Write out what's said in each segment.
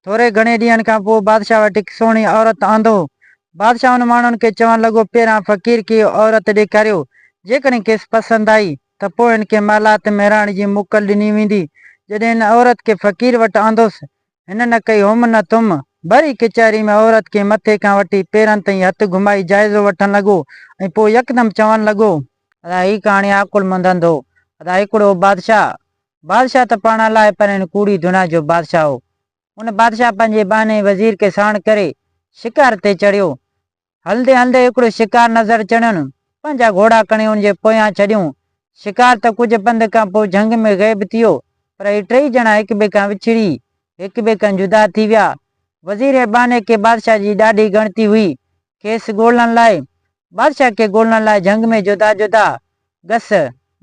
ٿوري گهڻي ڏينهن کان پوء بادشاهه وٽ هڪ سهڻي عورت آندو. بادشاهه ان ماڻهن کي چوڻ لڳو، پهريان فقير کي اها عورت ڏيکاريو، جيڪڏهن کيس پسند آئي ته پوء هن کي محلات ۾ رهڻ جي موڪل ڏني ويندي. جڏهن هن عورت کي فقير وٽ آندوس، هن نه ڪئي هم نه تم، ڀري ڪچهري ۾ عورت کي مٿي کان وٺي پيرن تائين هٿ گهمائي جائزو وٺڻ لڳو ۽ پوء يڪدم چوڻ لڳو. ادا هي ڪهاڻي عقلمند هندو. ادا هڪڙو هو بادشاهه، بادشاهه ته پاڻ الائي پر هن ڪوڙي دنيا جو بادشاهه هو. ان بادشاهه پنهنجي ٻانهي وزير کي ساڻ ڪري شڪار تي چڙهيو. هلندي هلندي هڪڙو شڪار نظر چڙهيون، پنهنجا گهوڙا کڻي ان جي پويان ڇڏيون. شڪار ته ڪجهه پنڌ کان پوء جهنگ ۾ غيب ٿي ويو، پر هي ٽيئي ڄڻا هڪٻئي کان وڇڙي، هڪٻئي کان جدا ٿي ويا. وزير ۽ ٻانهي کي بادشاهه جي ڏاڍي ڳڻتي هئي، کيس ڳولڻ لاء، بادشاهه کي ڳولڻ لاء جهنگ ۾ جدا جدا گس،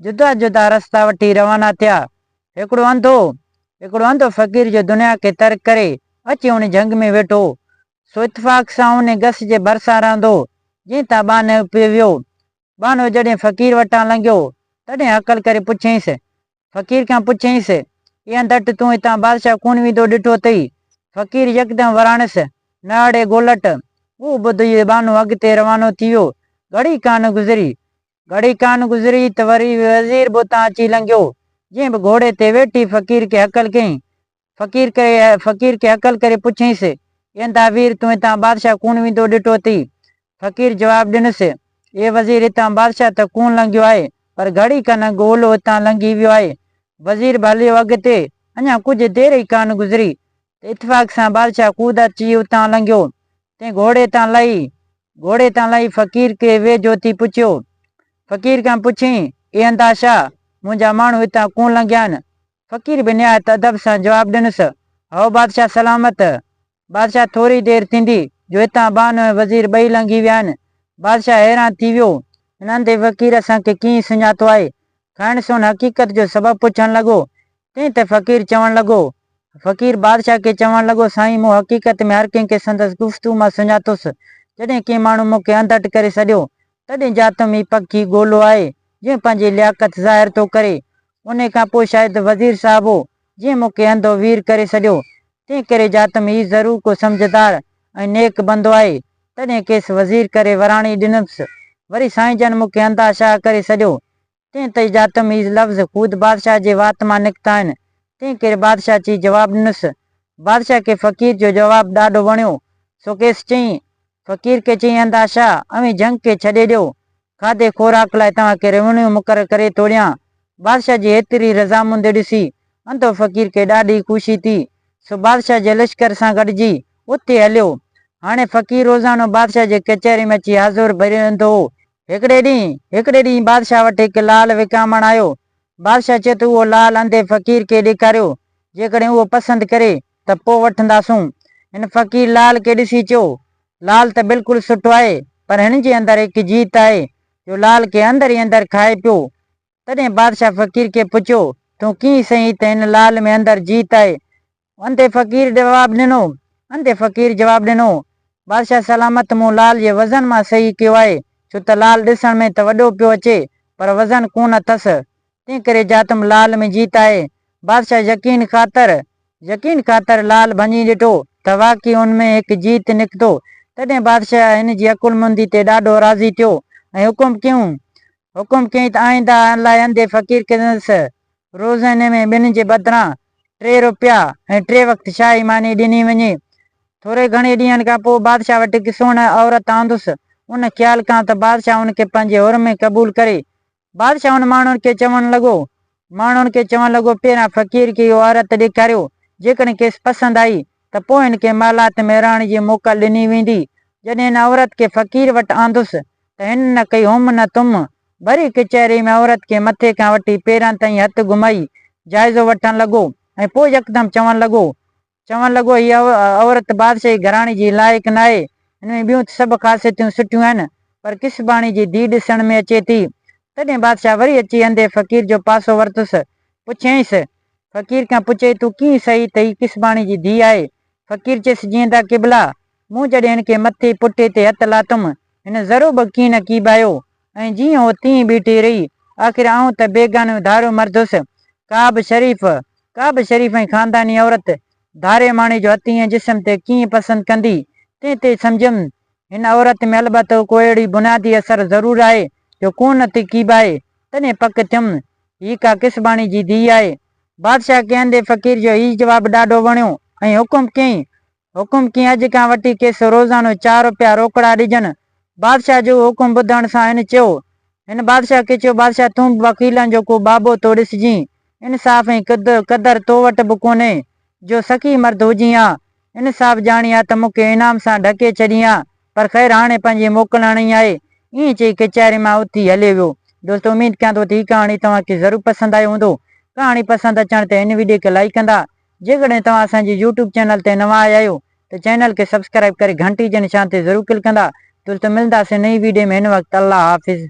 جدا جدا رستا وٺي روانا ٿيا. هڪڙو انڌو، هڪڙو انڌو فقير جو دنيا کي ترڪ ڪري اچي ان جهنگ ۾ ويٺو، سو اتفاق سان ان گس جي ڀرسان رهندو، جنهن تان ٻانهيو پيو ويو. ٻانهو جڏهن فقير وٽان لنگهيو، تڏهن هڪل ڪري پڇيائينس، فقير کان پڇيائينس، اي انڌٽ تون هتان بادشاهه ڪونه ويندو ڏٺو اٿئي؟ فقير يڪدم وراڻيس، نه اڙي گولٽ! اهو ٻڌي ٻانهو اڳتي روانو ٿي ويو. گهڙي ڪانه گذري. گهڙي ڪانه گذري ته وري وزير به اتان اچي لنگهيو، جنهن به گهوڙي تي ويٺي فقير کي هڪل ڪيائين، فقير ڪري فقير کي هڪل ڪري پڇيس، ايندا وير تون هتان بادشاهه ڪونه ويندو ڏٺو اٿئي؟ فقير جواب ڏنس، اي وزير هتان بادشاهه ته ڪونه لنگهيو آهي، پر گهڙي کن اڳ اولو هتان لنگهي ويو آهي. وزير به هليو اڳتي، اڃا ڪجهه دير ئي ڪانه گذري ته اتفاق سان بادشاهه خود اچي اتان لنگهيو. تنهن گهوڙي تان لهي گهوڙي تان لهي فقير کي ويجهو اٿي پڇيو. فقير کان پڇيائين، ايندا شاهه! منهنجا ماڻهو هتان ڪونه لنگهيا آهن، فقير به نهايت ادب سان جواب ڏنس، هائو بادشاهه سلامت! بادشاهه ٿوري دير ٿيندي جو هتان بانو ۽ وزير ٻئي لنگهي ويا آهن. بادشاهه حيران ٿي ويو. هن انڌي فقير اسان کي ڪيئن سڃاتو آهي؟ کائڻ سون حقيقت جو سبب پڇڻ لڳو. تنهن تي فقير چوڻ لڳو. فقير بادشاهه کي چوڻ لڳو، سائين مون حقيقت ۾ هر ڪنهن کي سندس گفتگو مان سڃاتوس. جڏهن ڪنهن ماڻهو مون کي انڌٽ ڪري سڏيو، تڏهن ڄاتم هي پکي گولو آهي، جنهن پنهنجي لياقت ظاهر ٿو ڪري. انهيء کان پوء شايد وزير صاحب هو، جنهن مون کي انڌو وير ڪري سڏيو. تنهن ڪري جا ته هي ضرور ڪو سمجهدار ۽ نيڪ بندو آهي، تڏهن کيس وزير ڪري وراڻي ڏنمس. وري سائين جن مون کي انڌا شاهه ڪري سڏيو. تنهن تئي جا ته هي لفظ خود بادشاهه جي وات مان نڪتا آهن، تنهن ڪري بادشاهه چي جواب ڏنس. بادشاهه کي فقير جو جواب ڏاڍو وڻيو، سو کيس چيائين، فقير کي چيائين انڌا شاهه، اوهين جهنگ کي ڇڏي ڏيو، کاڌي خوراڪ لاء توهان کي ريونيو مقرر ڪري ٿو ڏيان. بادشاهه جي ايتري رضامندي ڏسي، انڌو فقير کي ڏاڍي خوشي ٿي، سو بادشاهه جي لشڪر سان گڏجي اتي هليو. هاڻي فقير روزانو بادشاهه جي ڪچهري ۾ اچي حاضر به رهندو هو. هڪڙي ڏينهن هڪڙي ڏينهن بادشاهه وٽ هڪ لعل وڪامڻ آيو. بادشاهه چيو ته اهو لعل انڌي فقير کي ڏيکاريو، جيڪڏهن اهو پسند ڪري ته پوء وٺنداسون. هن فقير لال کي ڏسي چيو، لال ته بلڪل سٺو آهي، پر هن جي اندر هڪ جيت آهي، جو لال کي اندر ئي اندر کائي پيو. تڏهن بادشاهه فقير کي پڇيو، تون ڪيئن سهين ته هن لال ۾ اندر جيت آهي؟ انڌي فقير جواب ڏنو. انڌي فقير جواب ڏنو، بادشاهه سلامت مون لال جي وزن مان سهي ڪيو آهي، ڇو ته لال ڏسڻ ۾ ته وڏو پيو اچي، پر وزن ڪونه اٿس. تنهن ڪري جاٿم لعل ۾ جيت آهي. بادشاهه يقين خاطر، يقين خاطر، لعل ڀڃي ڏٺو ته واقعي ان ۾ هڪ جيت نڪتو. تڏهن بادشاهه هن جي عقلمندي تي ڏاڍو راضي ٿيو ۽ حڪم ڪيون، حڪم ڪيائين ته آئنده لاء انڌي فقير کيس روزاني ۾ ٻن جي بدران ٽي روپيا ۽ ٽي وقت شاهي ماني ڏني وڃي. ٿوري گهڻي ڏينهن کان پوء بادشاهه وٽ هڪ سهڻي عورت آندس. ان خيال کان ته بادشاهه ان کي پنهنجي حر ۾ قبول ڪري بادشاهه ان ماڻهن کي چوڻ لڳو. ماڻهن کي چوڻ لڳو، پهريان فقير کي اهو عورت ڏيکاريو، جيڪڏهن کيس پسند آئي ته پوء هن کي محلات ۾ رهڻ جي موڪل ڏني ويندي. جڏهن هن عورت کي فقير وٽ آندس ته هن نه ڪئي هم نه تم، ڀري ڪچهري ۾ عورت کي مٿي کان وٺي پيرن تائين هٿ گهمائي جائزو وٺڻ لڳو ۽ پوء يڪدم چوڻ لڳو، چوڻ لڳو، هيء عورت بادشاهي گهراڻي جي لائق ناهي. هن ۾ ٻيون ته سڀ خاصيتون سٺيون آهن، پر ڪسباڻي جي ڌيء ڏسڻ ۾ اچي ٿي. تڏهن بادشاهه وري اچي انڌي فقير جو پاسو ورتس. پڇيائينس، فقير کان پڇي تون ڪيئن سهي ته هي ڪسباڻي جي ڌيء آهي؟ فقير چيس، جيئن ته قبلا! مون جڏهن هن کي مٿي پٺي تي هٿ لاتم، هن ذرو به ڪيئن نه ڪيٻايو. ۽ جيئن هو تيئن ئي بيٺي رهي. آخر آئون ته بيگانو ڌاريو مرد هيس. ڪا به شريف، ڪا به شريف ۽ خانداني عورت ڌاري ماڻهي جو هٿ ائين جسم تي ڪيئن پسند ڪندي؟ تنهن تي سمجهيم، هن عورت ۾ البته ڪو اهڙي بنيادي اثر ضرور آهي، جو ڪونهن نٿي ڪيٻائي. تڏهن پڪ ٿيم، هيء ڪا ڪسباڻي جي ڌيء آهي. بادشاهه کي اندي فقير جو هيء جواب ڏاڍو وڻيو ۽ حڪم ڪيائين، حڪم ڪين اڄ کان وٺي کيس روزانو چار روپيا روڪڙا ڏجن. بادشاهه جو اهو حڪم ٻڌڻ سان هن چيو. هن بادشاهه کي چيو بادشاهه تون به وڪيلن جو ڪو بابو ٿو ڏسجين. انصاف ۽ قدر تو وٽ به ڪونهي. جو سخي مرد هجين ها. انصاف ڄاڻين ها ته مون کي انعام سان ڍڪي ڇڏين ها. پر خير هاڻي پنهنجي موڪل هڻڻي آهي. ائين چئي ڪچهري مان اٿي هليو ويو. دوستو اميد ڪيان ٿو ته هي ڪهاڻي توهان کي ضرور پسند آيو هوندو. ڪهاڻي پسند اچڻ تي هن ويڊيو کي لائيڪ ڪندا. جيڪڏهن توهان اسان جي يوٽيوب چينل تي نوان آيا آهيو ته چينل کي سبسڪرائيب ڪري گهنٽي جي نشان تي ضرور ڪلڪ ڪندا تولته ملنداسين نئين ويڊيو ۾ هن وقت الله حافظ.